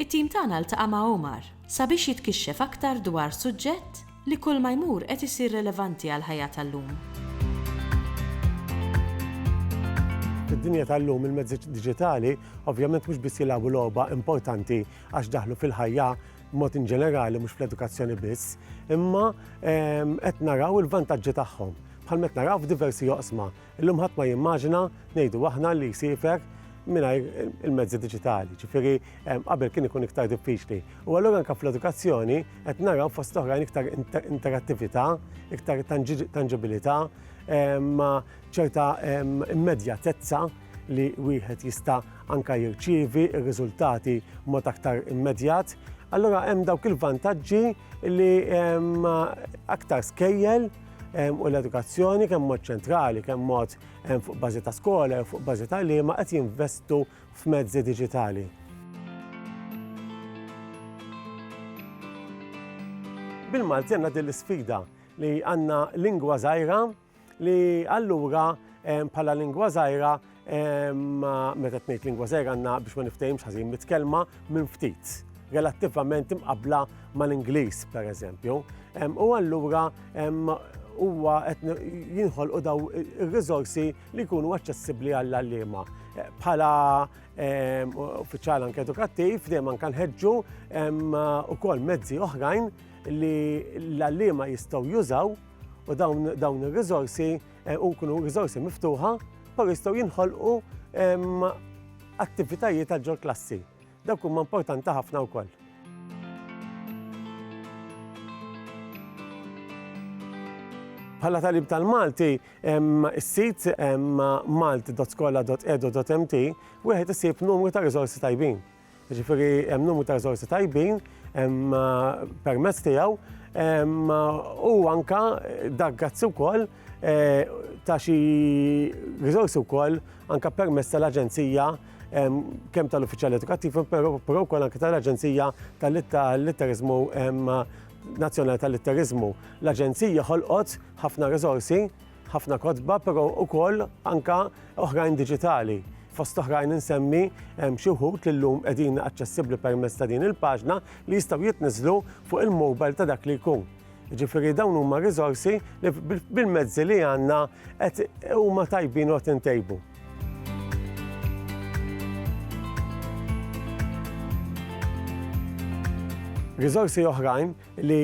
It-tim tagħna ltaqa' ma' Omar sabiex jitkixxef aktar dwar suġġett li kulma jmur qed isir relevanti għall-ħajja tal-lum. Fid-dinja tal-lum il-mezzi diġitali ovvjament mhux biss jilagħbu logħba importanti għax daħlu fil-ħajja b'mod inġenerali mhux fl-edukazzjoni biss, imma ehm, qed naraw il-vantaġġi tagħhom bħalma qed naraw f'diversi oqsma. Illum ħadd ma jimmaġina, ngħidu aħna, li jsiefer mingħajr il-mezzi diġitali, ġifieri qabel kien ikun iktar diffiċli. U allura anke fl-edukazzjoni qed naraw fost oħrajn iktar interattività, iktar tanġibilità, ma ċerta immedjatezza li wieħed jista' anka jirċievi r-riżultati mod aktar immedjat. Allura hemm dawk il-vantaġġi li aktar skejjel u l-edukazzjoni kemm mod ċentrali, kemm mod fuq bażi ta' skola jew fuq bażi ta' liema qed jinvestu f'mezzi diġitali. Bil-Malti għandna din l-isfida li għandna lingwa żgħira li allura bħala lingwa żgħira Imma meta tnejt lingwa żgħir għandna biex ma niftehimx ħażin mit kelma minn ftit relattivament imqabbla mal-Ingliż pereżempju. U allura huwa qed jinħolqu daw ir-riżorsi li jkunu aċċessibbli għall-għalliema. Bħala uffiċjal anke edukattiv dejjem anke nħeġġu ukoll mezzi oħrajn li l-għalliema jistgħu jużaw u dawn ir-riżorsi Eh, u kunu rizorsi miftuħa, pero jistgħu jinħolqu ehm, attivitajiet għal ġol klassi. Dawk huma importanti ħafna wkoll. Bħala talib tal-Malti, is-sit malti.skola.edu.mt wieħed isib numru ta' riżorsi tajbin. Jiġifieri hemm numru ta' riżorsi tajbin permezz tiegħu u anke dak grazzi wkoll ta' xi riżorsi wkoll anke permezz tal-Aġenzija kemm tal-Uffiċjal Edukattiv però wkoll anke tal-Aġenzija tal-Litteriżmu Nazzjonali tal-Litteriżmu. L-Aġenzija ħolqot ħafna riżorsi ħafna kotba, pero ukoll anka oħrajn digitali. Fost oħrajn insemmi xi wħud li llum qegħdin aċċessibbli permezz ta' din il-paġna li jistgħu jitniżlu fuq il-mobile ta' dak li jkun. Ġifieri dawn huma riżorsi li bil-mezzi li għandna qed huma tajbin u intejbu. Riżorsi oħrajn li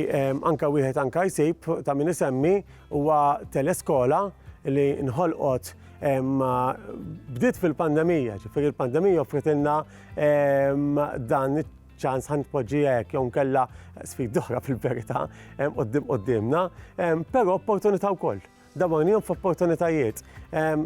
anka wieħed anka jsib ta' min isemmi Huwa teleskola li nħolqot bdiet fil-pandemija, ġifieri l-pandemija offritilna dan iċ-ċans ħa nitpoġġi hekk jew nkella sfidi oħra fil-verità quddiem quddiemna, però opportunità wkoll. Dawrnihom f'opportunitajiet.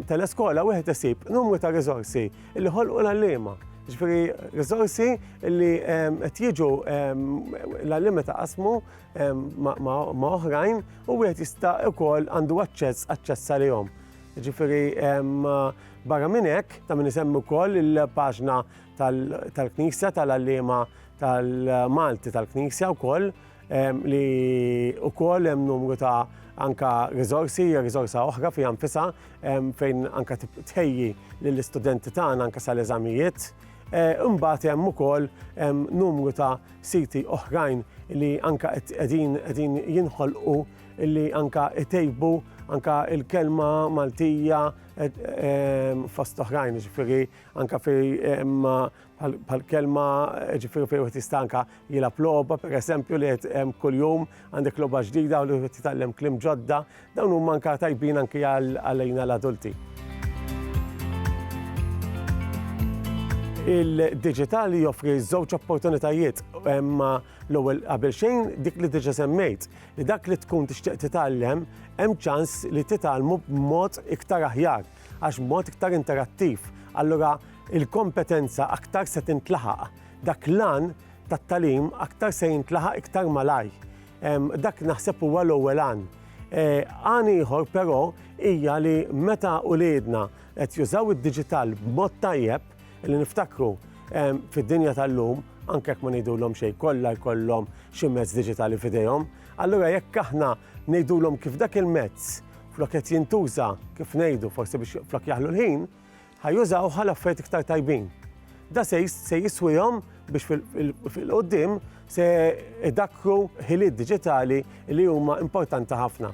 Teleskola wieħed isib numru ta' riżorsi li ħolqu l-għalliema. Ġifieri riżorsi li qed jiġu l-għalliema ta' qasmu ma' oħrajn u wieħed jista' ukoll għandu aċċess aċċess għalihom. Ġifieri barra minn hekk ta' min isemmi wkoll il-paġna tal-Knisja tal-għalliema tal-Malti tal-Knisja wkoll li wkoll hemm numru ta' anka rizorsi, rizorsa oħra fi nfisa fejn anka tħejji lill-istudenti tagħna anka sal-eżamijiet Imbagħad hemm ukoll numru ta' siti oħrajn li anke qegħdin jinħolqu li anke jtejbu anke l-kelma Maltija fost oħrajn, jiġifieri anke bħall-kelma jiġifieri fejn wieħed jista' anke jilgħab logħba pereżempju li qed kuljum għandek logħba ġdida u li wieħed jitgħallem kliem ġodda. Dawn huma anke tajbin anke għalina l-adulti. Il-diġitali joffri żewġ opportunitajiet imma l-ewwel qabel xejn dik li diġa semmejt li dak li tkun tixtieq titgħallem hemm ċans li titgħallmu b'mod iktar aħjar għax b'mod iktar interattiv. Allura il-kompetenza aktar se tintlaħaq. Dak l-għan tat-talim aktar se jintlaħaq iktar malaj. Dak naħseb huwa l-ewwel għan. Għan ieħor però hija li meta uliedna qed jużaw id-diġital b'mod tajjeb, li niftakru fid-dinja tal-lum, anke jekk ma ngħidulhom xejn, kollha jkollhom xi mezz diġitali f'idejhom, allura jekk aħna ngħidulhom kif dak il-mezz flok qed jintuża, kif ngħidu, forsi biex flok jaħlu l-ħin, Ħa jużawh għal affarijiet iktar tajbin. Da se se jiswihom biex fil-qudiem se idakkru ħiliet diġitali li huma importanti ħafna.